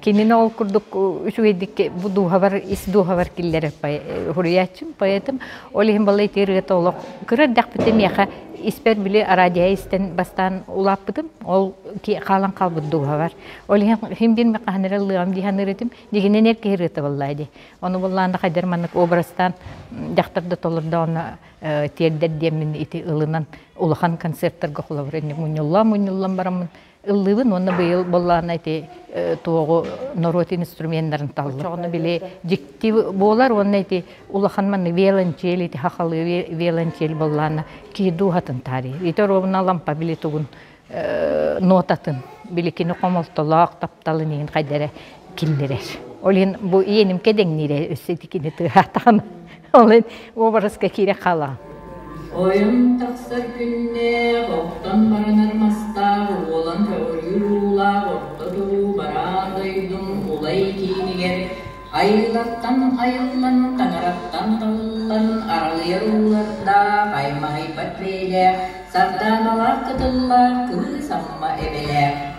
Кинини ол курдук үчүгэйдик бу дууһабар, ис дууһабар киллэрэр суруйааччым, поэтым. Ол иһин бала ити ырыата олох кыра эрдэхпитэ миэхэ испэр били араадиһа истэн бастаан улааппытым. Ол хаалан хаалбыт дууһабар. Ол иһин ким диэн мен хаһан эрэ ыллыам диһэн ырытым. Дигинэн эр киһи ырыата буоллаа ди. Ону буллаанда хайдар маннык образтан дьахтар да толордо онно тиэрдэр диэммин ити ылынан улахан концертарга холобур инник мунньуллам мунньуллан бараммын ыллыыбын уонна быйыл буоллаҕына ити туоҕу норуот инструменнарын таллым. Ону били дьикти буолар уонна ити улахан манны виолончель ити хахалыы виолончель буоллаҕына киидуухатын таарыйа. Ити оруобуна лампа били тугун нотатын били кини хомолтолоох тапталын иһин хайдара киллэрэр. Ол иһин бу иэнимкэ дэҥниирэ өссө итикини тыаһаатаҕым. Ол иһин уобараска киирэ хаалаҕын. Ойун тахсар күннээх оттон баранар мастаах уолан көҕүрүүр уулаах орто дуу бараан дойдум улай киинигэр айыллартан айыллан таҥараттан талыллан аралыйар уулардаах аймаҕыйбат бэйэлээх сардааналаах кытыллаах кыыс амма эбэлээх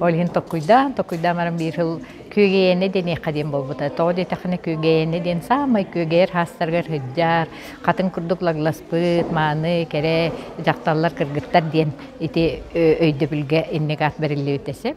Ол иһин токкуйдаан, токкуйдаан баран биир сыл күөгэйэнэ диэниэххэ диэн буолбута. Тоҕо диэтэххинэ күөгэйэнэ диэн саамай күөгэйэр хаастарыгар сылдьар, хатын курдук лагласпыт, мааны, кэрэ дьахталлар, кыргыттар диэн ити өйдөбүлгэ инник аат бэриллибитэ сөп.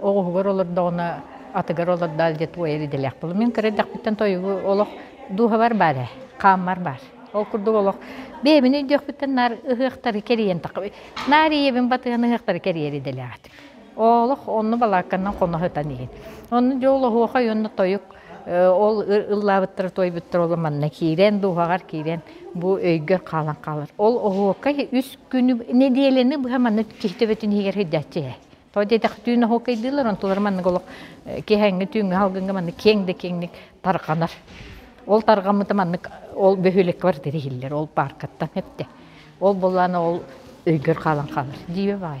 оҕуһугар олордоҕуна атыгар олордоол диэ туойар идэлээх буолла. Мин кыра эрдэхпиттэн тойугу олох дууһабар баар ээ, хааммар баар. Ол курдук олох бэйэбин өйдүөхпүттэн наар ыһыахтары кэрийэн тахха наар ийэбин батыһан ыһыахтары кэрийэр идэлээх этим. Олох онно балаакканан хоно сытан иһин. Онно дьэ ол оһуохай уонна тойук ол ыллаабыттара туойбуттара ол манна киирэн дууһаҕар киирэн бу өйгө хаалан хаалар. Ол оһуокай үс күнү нэдиэлэни быһа манна киһи төбөтүн иһигэр сырдааччы ээ. Тоҕо диэтэх түүн оһуокайдыылар, онтулар маннык олох киэһээҥҥи түүҥҥү халгыҥҥа маннык киэҥ да киэҥник тарҕанар. Ол тарҕаммыта маннык ол бөһүөлэк квартира иһиллэр, ол пааркаттан эптэ. Ол буоллаан ол өйгөр хаалан хаалар. Диибэ баай.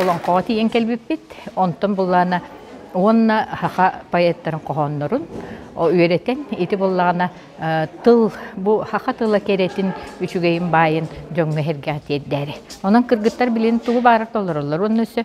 олоҥхоҕо тиийэн кэлбиппит онтон буллаана уонна саха поэттарын хоһооннорун үөрэтэн ити буллаана тыл бу саха тыла кэрэтин үчүгэйин баайын дьоҥҥо эһэргэҕэ тиэрдээри онон кыргыттар билин тугу баара толороллор уонна өссө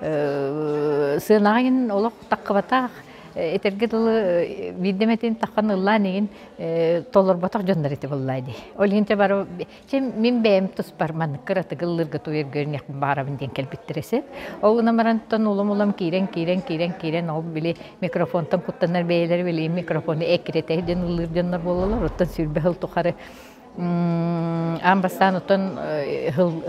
сыанаҕын олох таххыбатах этэргэ дылы биирдэмэтин таххан ыллаан игин толорботох дьоннор ити буллаа дии ол иһинте бары чим мин бэйэм туспар маннык кыратык ыллырга туйар көрнөх баарабын диэн кэлбиттэр эсэ ол уна марантан улам улам киирэн киирэн киирэн киирэн ол били микрофонтан куттанар бэйэлэр билиим микрофону эккиретэһи ден ыллыр дьоннор бололор оттон сүрбэ хыл тухары Аан бастаан оттон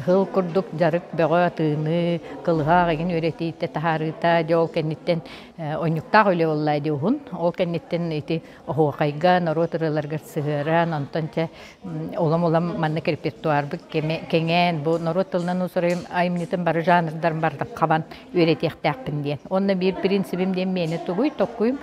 һыл курдук дьарык бөҕө атыыны, кылыһах игин үөрэтиитэ, таһаарыыта дьэ ол кэнниттэн онньуктаах үлэ буоллаа дии уһун. Ол кэнниттэн ити оһуохайга, норуот ырыаларыгар сыһыаран, онтон чэ улам-улам маннык репертуарбыт кэҥээн бу норуот тылынан уусуруйум айымньытын бары жанрдарын бардык хабан үөрэтиэхтээхпин диэн. Уонна биир принцибим диэн миэнэ тугуй, токкуйум,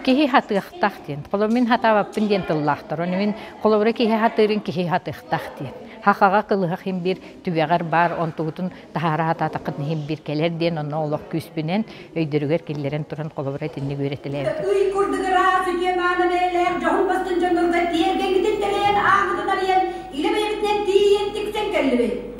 киһи хатыахтах диэн. Холобура, мин хатаабаппын диэн тыллаахтар. Ону мин холобура киһи хатыырын киһи хатыахтах диэн. Хахаҕа кылыһах им биир түгэҕэр баар, онтугутун таһаара хатаатаххытына иһин биир кэлэр диэн онно олох күүспүнэн, өйдөрүгэр киллэрэн туран холобура итинник үөрэтэлээбитим. Ый курдук ыраас, үтүө мааны бэйэлээх дьоһун бастыҥ дьоннорго тиэргэҥҥитин тэлэйэн, ааммытын арыйан, илэ бэйэбитинэн тиийиэн тиксэн кэллибит.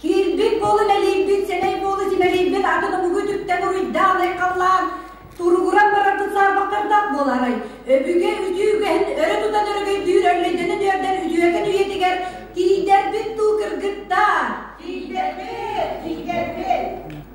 Киирбит буолу мэлийбит, сэмэй буолу симэлийбит, атыны бугу түптэн уруйдаан айхаллаан, туругуран барарбыт саарбахтардаах буолаарай. Өбүгэ үтүүгэһин өрө тутан өрөгөйдүүр өллөйдөнө түөрдэн үдүөкэн үйэтигэр тиийдэрбит дуу кыргыттаа! Тиийдэрбит! Тиийдэрбит!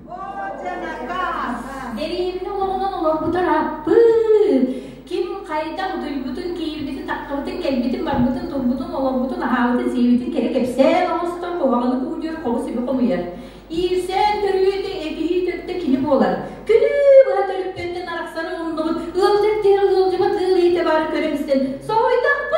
Эриимни олоҕунан олорбутар аппыы! Ким хайдах дуйбутун, киирбитин, тахтыбытын, кэлбитин, барбытын, турбутун, олорбутун, аһаабытын, сиэбитин кэрэ кэпсээн оҥостор, куһаҕаны куудьуйар, хоҕус үбү хомуйар. Иирсээн төрүөтэ, этиһии төрүтэ кини буолар. Күнү быһа төрүппүттэн арахсар умуннубут, ыалдьар тиэрэ ыалдьыбат ыал иитэ баара көрөн истэн, соһуйдахпын!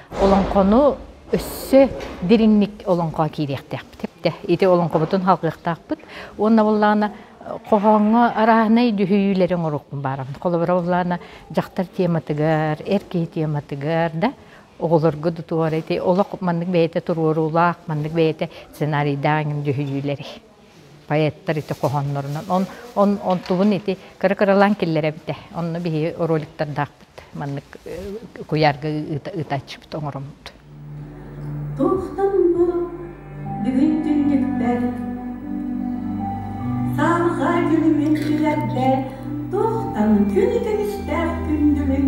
олоҥхону өссө дириҥник олоҥхоҕо киириэхтээхпит. Ити олоҥхобутун халҕыахтаахпыт уонна буоллаҕына хоһооҥҥо арааһынай түһүйүүлэри оҥоруохпун баҕарабын. Холобура буоллаҕына дьахтар тематыгар, эр киһи тематыгар да оҕолорго да туора ити олох маннык бэйэтэ туруоруулаах, маннык бэйэтэ сценарийдаах түһүйүүлэри. поэттар ити хоһооннорунан он он онтубун ити кыра-кыралаан киллэрэбитэ онно биһиги роликтардаахпыт маннык куйаарга ыытааччыбыт оҥороммут Тухтан бу бүгүн түннүктэр Саха дьылымын түлэрдэ Тухтан күн үтүмүстээх күндүбүн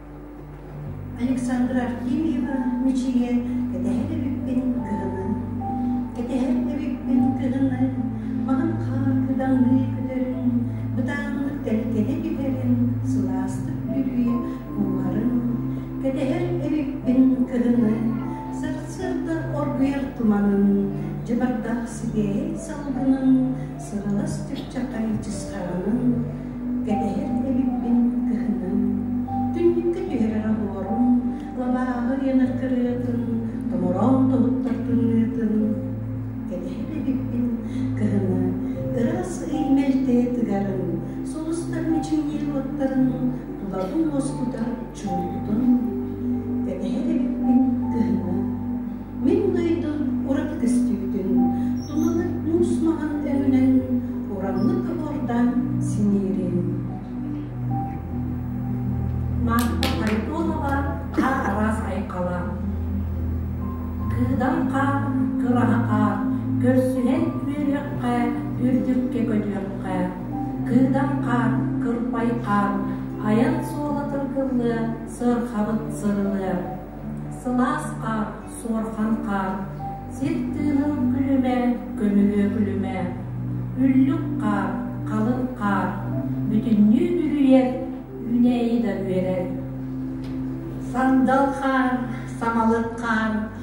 Александра Артемьева мичийэ кэтэһэн эбиппин кыһынын. Кэтэһэн эбиппин кыһынын, онон хаар кыдаҥыы көтөрүн, бытааннык тэлкэни түһэрин, сылаастык бүлүү кууһарын. Кэтэһэр эбиппин кыһынын, сарсыарда оргуйар туманын, дьыбардаах сибиэһэй салгынын, Сыҕалас чыпчахай дьысхаҕынан, кэтэһэр дэгибин кыһынын. Түннүккэ түһэрэр оһуорум, лабааҕы ыйанар кырыатын, томороон тобуттар тымныытын. Кэтэһэр дэгибин кыһыны, ыраас ый мэлтэ тыгарын, сулустар мичиҥниир уоттарын, тулабын уоскутар чоойутун, кэтэһэр эбиппин кыһыҥҥы. Мин дойду ураты көстүүтүн, тулалык муус маҥан өҥүнэн ураҥнык кыбордаан синиирин. Марфа Харитонова хара араас айхала. Кыыдан хаар, кыраһа хаар, көрсүһэн үөрүөххэ, үрдүккэ көтүөххэ, Кыытан хаан, кырпай хаан, айан суолатын кыллыа, сырхабыт сырылыа. Сылаас хаан, суорхан хаан, сир тыынын күлүмэ, көмүлүө күлүмэ. Үллүк хаан, халыҥ хаан, бүтүннүү бүрүйэр, үүнээйи да үөрэр. Сандал хаан, самалык хаан,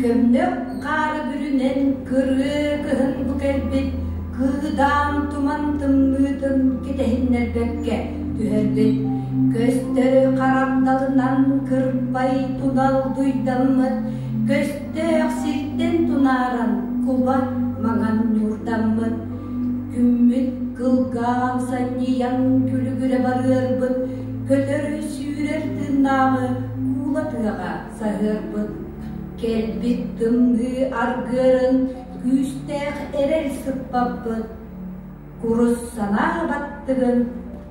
Көмнөк хаары бүрүнэн кырыы кыһын бу кэлбит кыыдаам туман тымныытын кэтэһиннэрбэккэ түһэрбит көстөрү харагдалынан кырпай тунал дуйдаммыт көстөөх сиртэн тунааран куба маҥан ньуурдаммыт күммүт кылгаан санньыйан күлүгүрэ барыарбыт көтөрү сүүрэр тыыннааҕы куула тыаҕа Саһыарбыт, кэлбит тымныы аргыарын күүстээх эрэл сыппаппыт, курус санаа баттыгын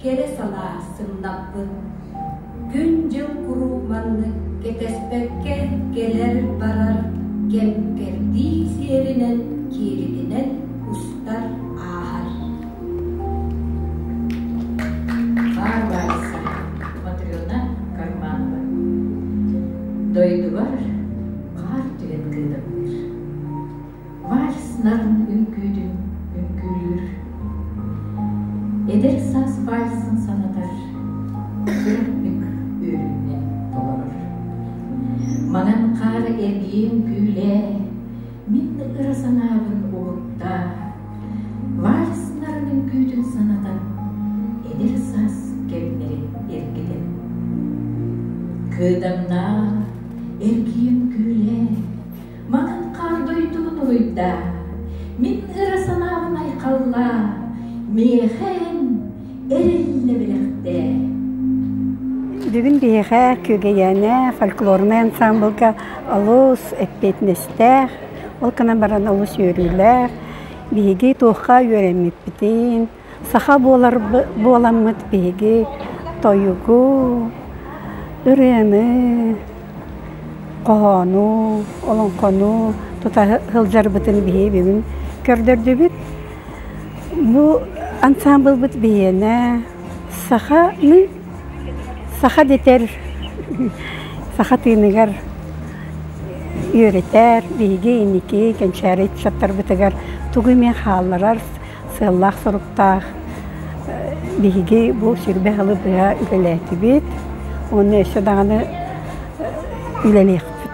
кэрэ санаа сымнаппыт. Күн-дьыл куруук маннык кэтэспэккэ кэлэр-барар кэм-кэрдии сиэринэн кииритинэн кустар ааһар. Баар баарса. Матрена Карманова. Дойдубар хаар түһэн кыыталыыр. Вальс нарын үҥкүүтүн үҥкүүлүүр. Эдэр саас вальсын санатар, кырмык үөрүүнэ толорор. Маҥан хаар эргиэн күүлээ, Мин да кыра санаабын уһукта, вальснарының күүтүн санатан, эдэр саас кэмнэри эргитэн. Кыдамнаах, эргиэн күүлээ, матан хаар дойдубун уруйда, мин ыра санаабын айхалла, миэхэн Бүгүн биһиэхэ Күөгэйээнэ фольклорнай ансаамбылга олус эппиэтинэстээх, ол гынан баран олус үөрүүлээх. Биһиги туохха үөрэммиппитин, саха буолар буоламмыт биһиги тойугу, ырыаны, хоһоону, олоҥхону тута сылдьарбытын биһиги бүгүн көрдөрдүбүт. Бу ансаамбылбыт биһиэнэ саханы саха дэтэр саха тыыныгар үөрэтэр, биһиги инники кэнчээри ыччаттарбытыгар тугу эмэ хаалларар сыаллаах-соруктаах биһиги бу сүрбэ сылы быһа үлэлээтибит уонна өссө даҕаны үлэлиэхпит.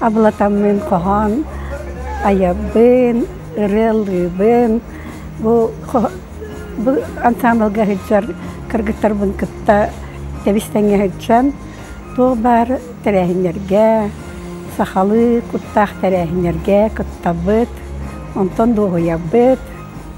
абылатаммын хоһоон айабын, ырыалыыбын. Бу ансаамбылга сылдьар кыргыттарбын кытта тэбис-тэҥҥэ сылдьан туох баар тэрээһиннэргэ, сахалыы куттаах тэрээһиннэргэ кыттабыт, онтон дуоһуйабыт.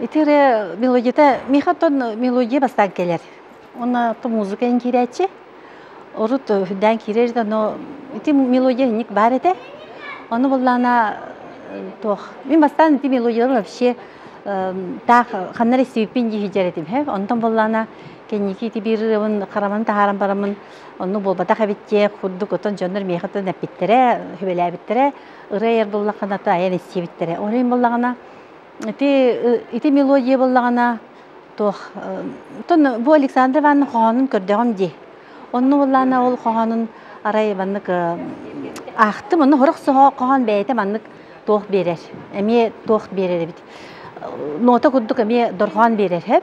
Ити эрэ мелодията Михатон мелодия бастаан кэлэр. Уонна то музыка иҥкирээччи. Урут үрдээн киирэр да, но ити мелодия инник баар этэ. Ону буоллаана туох мин бастаан ити мелодиялар вообще таах ханна эрэ истибиппин дии иһдьэр этим һэ. Онтон буоллаана кэнники ити биирырыбын хараман таһааран бараммын онну буолбатах эбит диэ курдук оттон дьоннор миэхэ эппиттэрэ, сүбэлээбиттэрэ. ырай эр буллаххына таайан истибиттэрэ. Ол иһин буллаҕына ити ити мелодия буллаҕына туох оттон бу Александра Ивановна хоһоонун көрдөҕүм дии. Онно буллаана ол хоһоонун арай маннык аахтым. Онно сорох хоһоон бэйэтэ маннык туох биэрэр. Эмиэ туох биэрэр эбит. Нота курдук эмиэ дорҕоон биэрэр.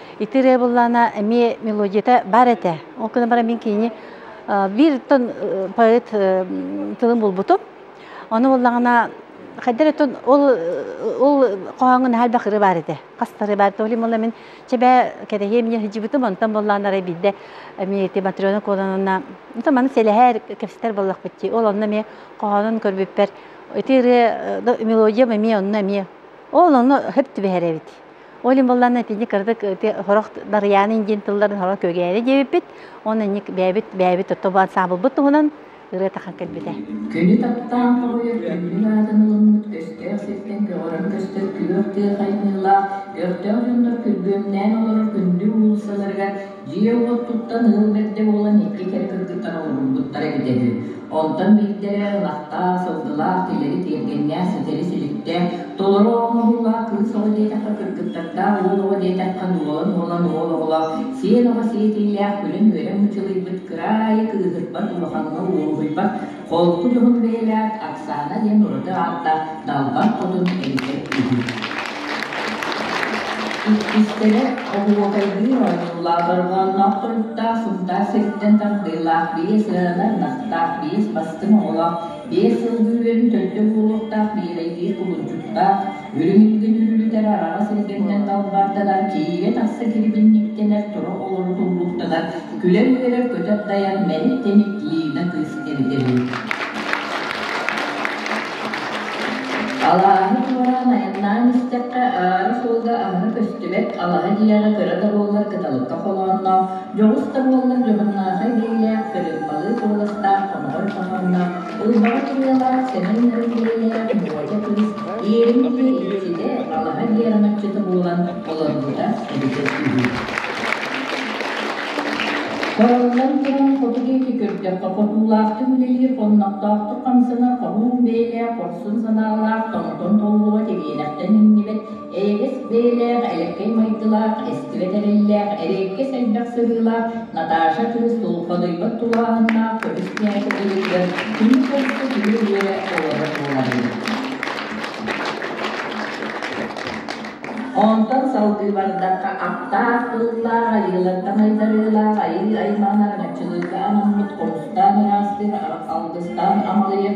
Ити ырыа буллаана эмиэ мелодията бар этэ. Ол гынан баран мин кинини бииртон поэт тылын булбутум. Ону буллаҕына хайдары ол ол хоһооҥҥун хальбах ыры баар этэ. Хас ыры баар то олим мин чэбэ кэтэһиэм мен хыдьыбытым онтон буллаанара биирдэ эмиэ ити Матрена Куолананна то маны сэлэһэр кэпсэтэр боллохпутти. Ол онно эмиэ хоһоонун көрбүппэр ити ырыа мелодиям эмиэ онно эмиэ ол ону хөп түбэһэр эбит. Ол иһин буоллаана итини кырдык сорох Дарыйаанын диэн тылларын сорох көгээри диэбиппит. Онно инник бэйэбит бэйэбит оттоп ансаамбылбыт туһунан ырыа тахан кэлбитэ. Көнө таптаан тоҕуйа бүрүҥүн аатын ылыммыт көстөөх сиртэн көҕөрөн көстөр күөх тыа хайныылаах өртөөх дьоннор күргүөмнээн олорор күндү уулуссаларыгар Дьиэ уоттуттан ыал бэрдэ буолан икки кэрэ кыргыттар олорбуппуттара эбитэ үһү. Онтон биирдэрэ ынахтаах, сылгылаах, тилэри тиэргэннээх, ситэри сүлүктээх, толору оҕо моһуулаах кыыс оҕо диэтэххэ кыргыттардаах, уол оҕо диэтэххэ дуолан уолан уол оҕолоох, сиэн оҕо сиэтиилээх, күлэн үөрэн мычылыйбыт кыраайы кыыһырбат улахаҥҥа уоһуйбат Холку Дуһук бэйэлээх Оксана диэн ураты ааттаах далбар хотун эбэтэр үһү. Иккистэрэ оһуокайдыыр оонньуулаах дорҕоонноох туруктаах сунтаар сириттэн тардыылаах биэс ыалар настаах биэс бастыҥ оҕолоох биэс сыл бүрүөнүн төрдө буолуохтаах миэрэйдиир кубулдьуттаах Үрүҥ-үлгүн үллүтэр араҕа сиргитинэн далбаарданар, киигэ-тахса кирбинньиктэнэр тура олорутуллуктанар, күлэр-үөрэр көтөр-дайар мэник тэник Лида кыыс тэритэрин. Алааһы туораан айаннаан истэххэ аара суолга аһара көстүбэт алаһа дьиэҕэ кыра да буоллар кыталыкка холоонноох дьоҕус да буоллар дьоһуннаахай бэйэлээх кырыымпалыы куоластаах хомоҕой хоһоонноох Уйбаҕа турнелаах Сэмэн-Нарык бэлиэлэрэ Буодьа кыыс иэйин диэри ситэ балаһа биэрэн отчута буолан олорбута эбитэ үһү. Хороллон туран хоту диэки көрдөххө хотуулаахтык үлэлиир хоннохтоохтук хамсанар хоһуун бэйэлээх хорсун санаалаах тоҥтон толгула кэбиэнэхтэн иҥнибэт Эйэгэс бэйэлээх, элэккэй майгылаах, эстибэт эрэллээх, эриэккэс элбэх сырыылаах Наташа кыыс долгодуйбат тулааһыннаах көмүскээһин үлэтигэр күнү хосту күлү-үөрэ олорор буолар эбит. Онтон салгыы бардахха аптаах тыллаах, айыылар таҥайдарыылаах, айыы аймаҕын араҥаччылыырга анаммыт хомустаан ыраастыыр, алгыстаан амалыйар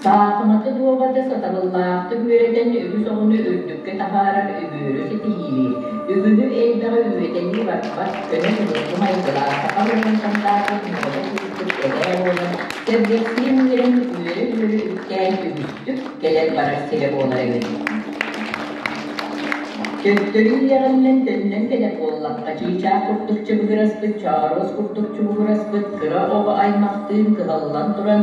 Саахыматы дуобаты сатабыллаахтык үөрэтэн үһүс оҕону үрдүккэ таһаарар үгүөрү ситиһиилии, үгүһү элбэҕи үөтэлии барбат, көнө судургу майгылаах саха норуот сандаарбыт ньыгыла курдук эбээ буолан, сэргэхсийэн үөрэн үөрэ-үөрэ үктээн үгүстүк кэлэр-барар сирэ буолар эбит. Төттөрү үөҕэллэн төннөн кэлэр буоллахха чыычаах курдук чыбыгыраспыт, чооруос курдук чубугураспыт кыра оҕо аймахтыын кыһаллан туран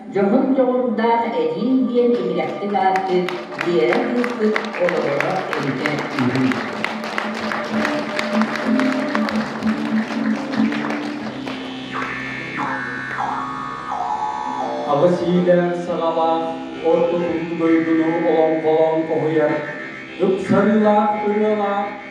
Дьоһун дьоҕурдаах эдьиий диэн иллэхтик ааттыыр Биэрэ кыыспыт олоҕуран илдьэр үһү Аҕыс иилээх саҕалаах орто күн дойдуну олоҥхолоон хоһуйар ыксарыылаах ырыалаах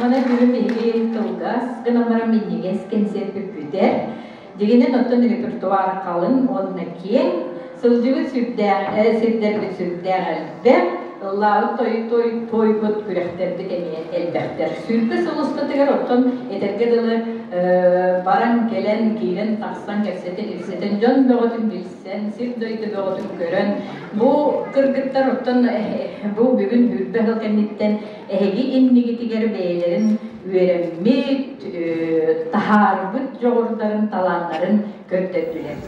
Манна күһүн биһиги кылгас гынан баран минньигэс кэнсиэр бүппүтэ. Дигинэн оттон репертуар қалың уонна киэҥ, сылдьыбыт сүрдээх, сирдэрбит сүрдээх элбэх, ыллаабыт той тойбут күрэхтэрбит эмиэ элбэхтэр. Сүрбэ сыл устатыгар оттон этэргэ дылы баран кэлэн киирэн тахсан кэпсэтэн дьон бөҕөтүн билсэн, сир-дойду бөҕөтүн көрөн бу кыргыттар оттон бу бүгүн хүрбэ хыл кэнниттэн Эһиги иннигитигэр бэйэлэрин үөрэммит, таһаарбыт дьоҕурдарын, талааннарын көрдөрдүлэр.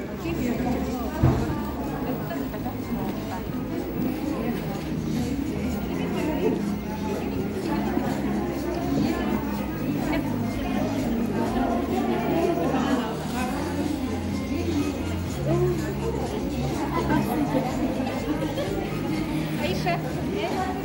Ayşe.